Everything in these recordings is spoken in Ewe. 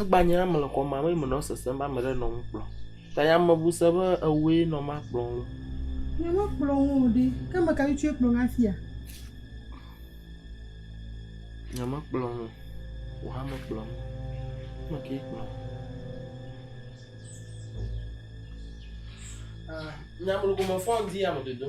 Egbanya ame le xɔme abe menɔ sesem be ame aɖe nɔ nu kplɔm ta yameŋu se be ewɔe nɔ ma kplɔm ɖo. Nye mekplɔ wo o ɖi. Ke ame kae tsɔe kplɔ na fia? Nye mekplɔ wo. Wò hã mekplɔ wo. Ame kae kplɔ wo? Ah, nya me lɔ gomefɔ ŋdi ya me dodo.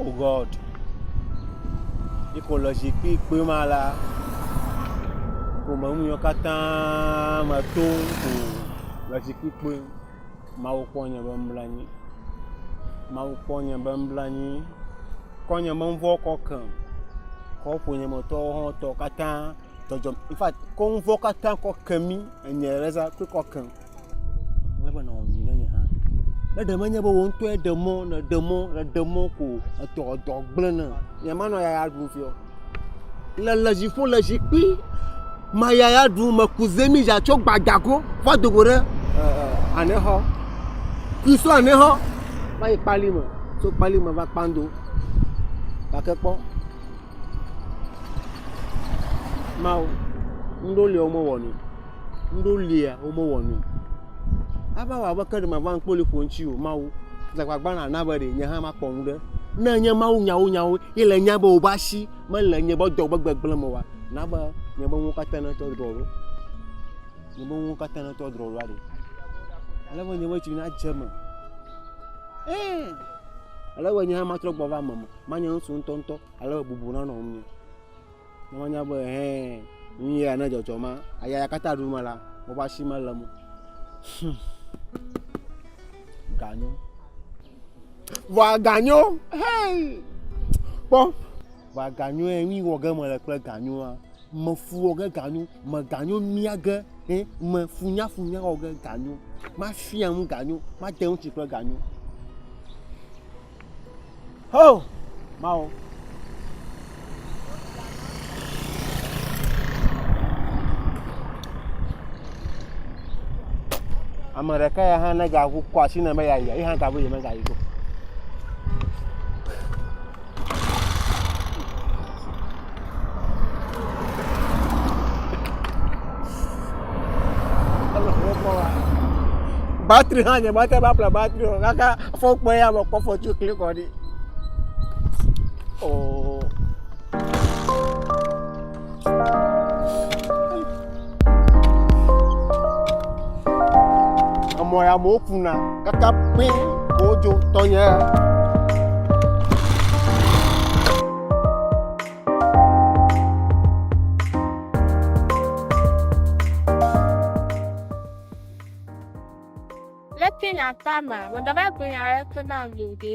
Oh God. Yi ke wòle zikpui kpui ma la, ƒome nu yiwo katã me tom ko le zikpui kpui. Mawu kpɔ nye be mebla anyi. Mawu kpɔ nye be mebla anyi. Kɔ nye be ŋvɔ kɔ kem. Kɔ ƒonyemetɔwo hã tɔ katã dzɔdzɔ in fact kɔ ŋvɔ katã kɔ ke mí enye Erasah kpe kɔ kem. Ele be nawɔ nyui ɖe nye hã. Ne ɖe menye be wò ŋtɔe ɖe mɔ nèɖe mɔ nèɖe mɔ ko o etɔ dɔ gble nɛ. Nye manɔ yaya ɖum fiɔ. Le le dziƒo le zikpui maya ya ɖu me ku zemi ya tso gbadza go va do go ɖe anexɔ kui so anexɔ va yi kpali me tso kpali me va kpando gake kpɔ mawo ŋɖo lia wo mewɔ nui ŋɖo lia wo mewɔ nui ava wɔ abe ke ɖe mava ŋkpoli ƒo ŋuti o mawo dze agbagba na na be ɖe nye hã makpɔ ŋu ɖe ne nye mawu nyawo nyawo Ye le nya be wobe asi mele nye be dɔ be gbegblẽ me oa, na be nye be nuwo katã natrɔ drɔ̃ ɖo. Nye be nuwo katã natrɔ drɔ̃ ɖo aɖe. Ale be nye be tsi nadze eme. Ẽ! Ale be nye hã matrɔ gbɔ va eme me. Manye ŋutsu ŋutɔŋutɔ ale be bubu nanɔ ŋunye. Ne woanya be hɛn nu ya ne dzɔdzɔ ma aya ya katã ɖu me la, woƒe asi mele eme o. Hum. Ganyo. Vɔa ganyo hɛn. Kpɔ vɔa ganyo yɛ nu yi wɔ ge mele kple ganyoa. Mefu wɔ ge ganyo, me ganyo mia ge hɛn, me funyafunya wɔ ge ganyo, mafia nu ganyo, made ŋutsi kple ganyo. Ho! Mawu. Ame ɖeka ya hã ne gaku kɔ asi ne me ya yi, yi hã gabu yi me ga yi ko. batri hã nye mete ŋu aƒle batri o kaka fon kpɔ eya mekpɔ fotsu klikɔ kɔ ɖi o. Emɔ ya amewo kuna kaka pɛ wodzo tɔnye. Leke nyaata ma, mɔdɔmɛ gbenya rɛ tona lode.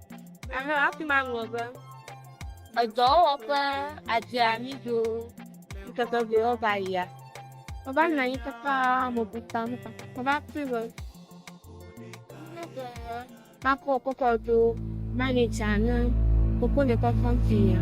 Aha, afi ma ŋlɔ be, edɔwɔwɔ ƒe adzeamido ŋkeke vewo va yia. Meva nɔ anyi kaka mebuta nu ka. Meva kpɔe be makɔ kɔkɔ do manitsa ne koko ne kɔkɔ fi ya.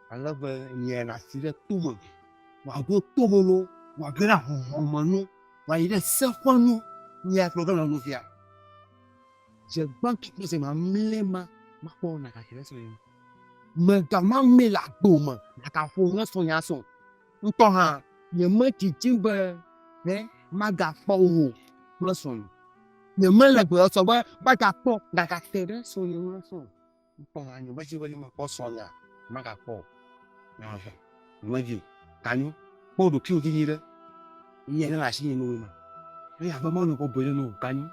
Ale be nyae le asi ɖe to me, wòaɖo to me no, wòage ɖe ahɔhɔ̃ me no, wòayi ɖe se ƒe nu. Nyae gblɔ be nɔvia, dze gbãtɔ kple dze mamlɛ ma, makpɔ be nàgadzre ɖe srɔ̃nye ŋu. Mega mamlɛ le agbo me nàgaƒo ne srɔ̃nye asrɔ̃ o. Ŋutɔ hã, nyemedidim be ẽ magakpɔ wò kple srɔ̃nye. Nyemele gbɔsɔsɔ be magakpɔ nàgate ɖe srɔ̃nye ŋu asrɔ̃ o. Ŋkpɔ ha nyo bezi bezi me kpɔ srɔ nya maga kpɔ o ehe me vi ka nyo kpɔ ɖo kiwo dzi nyi ɖe nye ne asi nyi no ma ne ya be ma no ko bele no ka nyo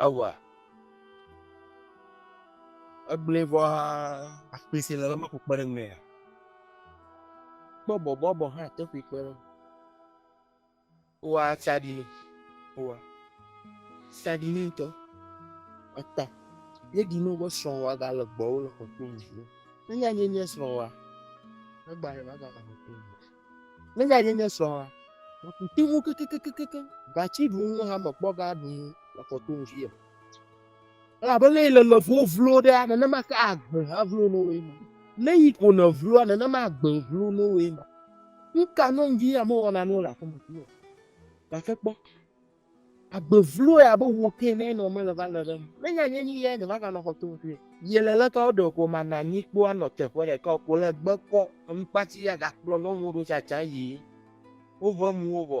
awa egble vɔ ha akpese le ma ko kpe ɖe me ya Kpɔ bɔbɔbɔ hã teƒe kpe ɖe wa tsaɖi wa tsaɖi ni ŋutɔ eta yeɖi ni woƒe srɔ̃wa gale gbɔwo le kɔkɔe ŋu nenye nye nye srɔ̃wa egba ɖe va gale kɔkɔe ŋu nenye nye nye srɔ̃wa mekuti mu kekekekeke gatsi ɖu nu hã mekpɔ ga ɖu nu le kɔkɔe ŋu Elabe ne le lɔvwo vlo ɖea, nenema ke agbe hã vlo no woe ma. Ne yi ko nèvloa, nenema agbe vlo no woe ma. Nu ka nɔ ŋdi ame wɔna nu le aƒe me vloa? Gake kpɔ, agbe vloe abe wò ke ene ne womele va le ɖe eme. Ne nya nye nuyae nèvava nɔ xɔ to ŋutɔe. Ye le leke woɖe gɔmeananyi kpɔa nɔ teƒe ɖeka o ko le gbe kpɔ eŋkpati ya gakplɔ nɔviwo ɖo tsatsa yi woƒe nuwo gbɔ.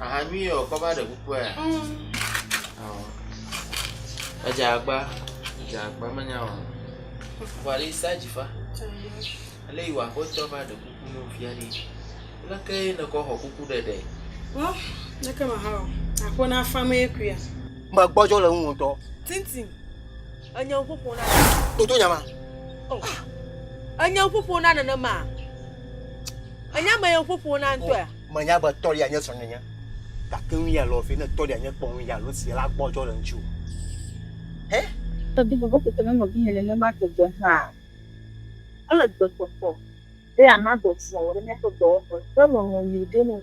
Aha nyuie wɔ kɔ va ɖe kukua ya? Ɔɔ. Edze agba. Edze agba menya o. Vɔ ɖe sa dzi fa. Ele yi wɔ aƒetɔ va ɖe kuku nɔ fia ɖe. Leke ye ne kɔ xɔ kuku ɖeɖe? Wɔ leke ma ha wɔ. Aƒe na fa mee kuia. Magbɔdzɔ le ŋu ŋtɔ. Tintin. Enye ƒoƒo na nenema. Toto nyama. Oh. Ah. Enye ƒoƒo na nenema. Enye ame ye ƒoƒo na ŋutɔe. Oh, Menye agbe tɔli anye srɔ̃nyenye. Gake nu ya lɔ fi ne tɔli anye kpɔ nu ya lɔ si la gbɔ jɔ le ŋutsu. Hɛ? Tɔbi bɔbɔ kete ne nɔbi nye nenema gbegbe hã. Ele gbekpɔkpɔ be ana dɔ vɔ ɖe míaƒe dɔwɔƒe ƒe lɔlɔ̃ nyui ɖe nu.